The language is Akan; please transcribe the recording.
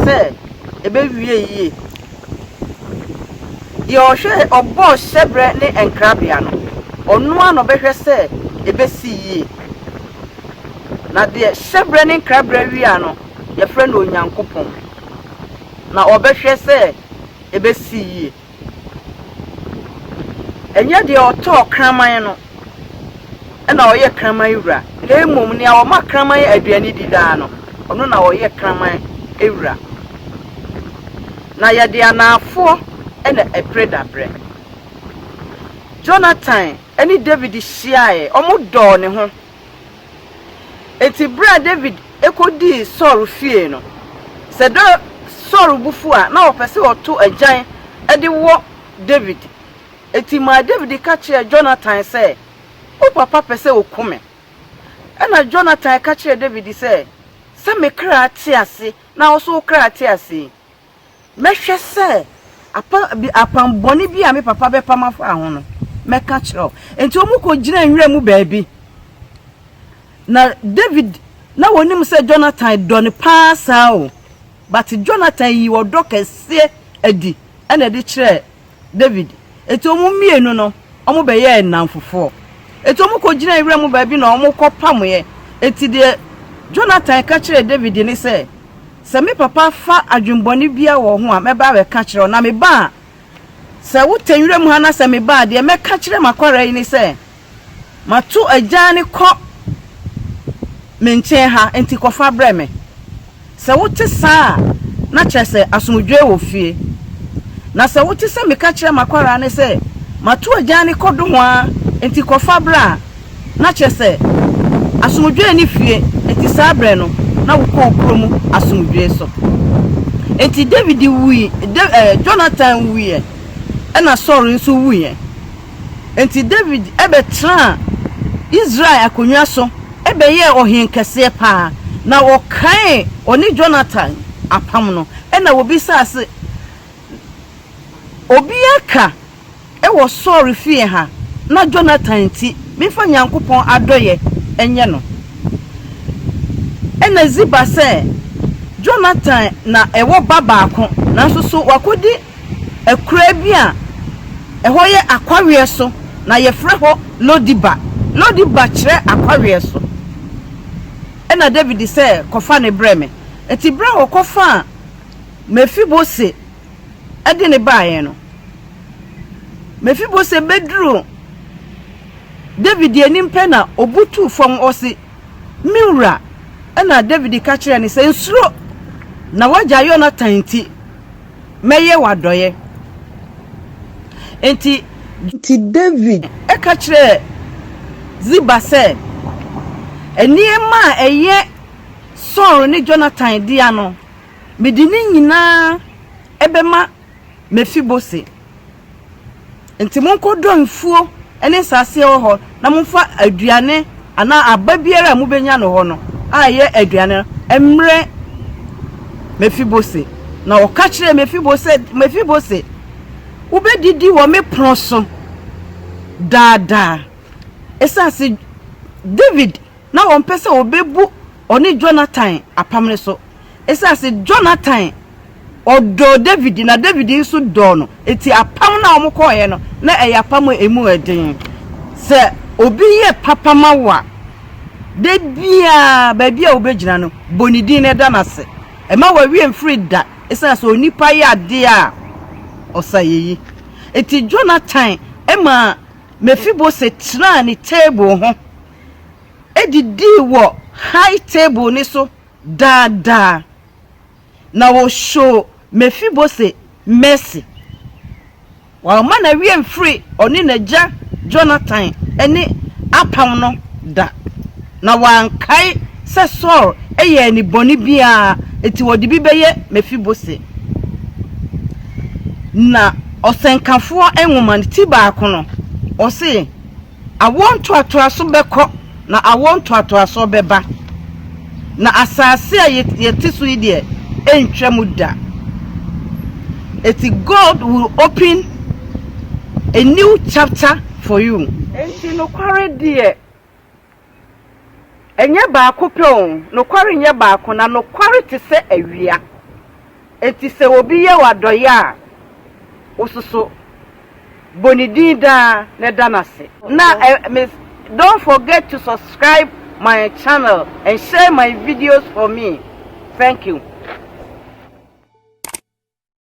sɛ ebewie yiye. Deɛ ɔhwɛɛ, ɔbɔɔ hyɛberɛ ne nkrabea no, ɔno ara na ɔbɛhwɛ sɛ ebesi yie. Na deɛ hyɛberɛ ne nkrabea wia no, yɛfrɛ no Onyankopɔn, na ɔbɛhwɛ sɛ ebesi yie. Ɛnyɛ deɛ ɔtɔɔ kraman no na ɔyɛ kraman wura, na mmom nea ɔma kraman aduane di daa no, ɔno na ɔyɛ kraman wura. Na yɛde anaafoɔ na ɛpere daberɛ. Jonathan ne Dawid hyiaeɛ, wɔdɔɔ ne ho. Enti bere a Dawid kodii Saul fie no, sɛ da Saul bo fuw a, na ɔpɛ sɛ ɔto agyan de wɔ Dawid. Enti maa Dawid ka kyerɛɛ Jonatan sɛ, Wo papa pɛ sɛ okum me. Ɛnna Jonatan ka kyerɛɛ Dawid sɛ, Sɛ me kra te ase na wo nso wo kra te ase yi, Mɛhwɛ sɛ apam bɔne bi a me papa bɛpam afa ho no, mɛka kyerɛ wo. Enti wɔkɔgyinaa nwura mu baabi. Na David, na wɔnim sɛ Jonathan dɔ no paa saa o, but Jonathan yii ɔdɔ kɛseɛ adi na ɛde kyerɛɛ David. Enti wɔn mmienu no, wɔbɛyɛɛ nnamfofoɔ. Enti wɔkɔgyinaa wira mu baabi na wɔkɔpamoeɛ. Enti deɛ Jonathan ka kyerɛɛ David ne sɛ, Sɛ me papa fa adwemmɔne biara wɔ wo ho a, mɛba abɛka akyerɛ wo. Na meba a, sɛ wotɛn wira mu ha na sɛ meba a, deɛ mɛka akyerɛ m'akwara yi ne sɛ, Mato agyan kɔ me nkyɛn ha, enti kɔfa brɛ me. Sɛ wote saa a, na kyerɛ sɛ asomdwoe wɔ fie. Na sɛ wote sɛ meka kyerɛ m'akwadaa no sɛ, 'Mato agyan kɔ nohoa, enti kɔfa brɛ' a, na kyerɛ sɛ asomdwoe nni fie, enti saa bere no, na wokɔ wo kurom asomdwoe so. Enti Dawid wui, Jonatan wuiɛ, ɛnna Saul nso wuiɛ. Enti Dawid bɛtenaa Israel akonnwa so bɛyɛɛ ɔhene kɛseɛ paa, na wɔkaee ɔne Yonatan apam no. Ɛnna wɔbisaa sɛ, Obiara ka wɔ Saul fie ha na Yonatan nti memfa Nyankopɔn adɔeɛ nyɛ no? Ɛnna Ziba sɛ, Yonatan na ɛwɔ ba baako, nanso so wakɔdi Akuraa bi a ɛhɔ yɛ akɔweɛ so na yɛfrɛ hɔ Lo-diba. Lo-diba kyerɛ akɔweɛ so. Ɛnna Dawid sɛ, Kɔfa no brɛ me. Enti berɛ a wɔkɔfaa Mefibose de no baeɛ no, Mefibose bɛduruu Dawid anim pɛ na ɔbutuu fam, ɔse, Me wura! Ɛnna Dawid ka kyerɛɛ no sɛ, Nsuro, na w'agya Yonatan nti. Mɛyɛ wo adɔeɛ. Enti. Enti Dawid. Ka kyerɛɛ Ziba sɛ, Nneɛma a ɛyɛ Saul ne Yonatan dea no, mede ne nyinaa bɛma Mefibose. Enti monkɔdɔ mfuo ne nsase a ɛwɔ hɔ na momfa aduane anaa aba biara a mobɛnya no hɔ no a ɛyɛ aduane no mmrɛ Mefibose. Na ɔka kyerɛɛ Mefibo sɛ, Mefibose, wobɛdidi wɔ me pono so daa daa. Ɛsiane sɛ Dawid. na wɔmpɛ sɛ wɔbɛbu ɔne Jonathan apam no so. Ɛsiane sɛ Jonathan ɔdɔɔ David na David nso dɔɔ no nti, apam no a wɔkɔeɛ no, na ɛyɛ apam a ɛmu yɛ den. Sɛ obi yɛ papa ma wo a, da biara baabi a wobɛgyina no, bɔ ne din na da no ase. Mma w'awie mfiri da ɛsiane sɛ onipa yɛ adeɛ a ɔsa yɛyi. Nti Jonathan maa Mefiboset tenaa ne table ho. didii wɔ high table no so daa daa, na wɔhyoo Mefibose mercy. Wamma ne werɛ amfiri ɔne n'agya Jonathan ne apam no da, na wankae sɛ Saul yɛɛ no bɔne bi a enti wɔde bi bɛyɛ Mefibose. Na Ɔsɛnkafoɔ nwoma no ti baako no, ɔse, Awoɔ ntoatoaso bɛkɔ, na awoɔ ntoatoasoɔ bɛba, na asase a yɛte so yi deɛ ɛntwa mu da. Eti God will open a new chapter for you. Enti nokware deɛ. Ɛnyɛ baako pɛ o, nokware nyɛ baako, na nokware te sɛ awia. Enti sɛ obi yɛ wo adɔeyɛ a, wo nso so, bɔ ne din daa na ɛda no ase. Na Miss Don't forget to subscribe my channel and share my videos for me. Thank you.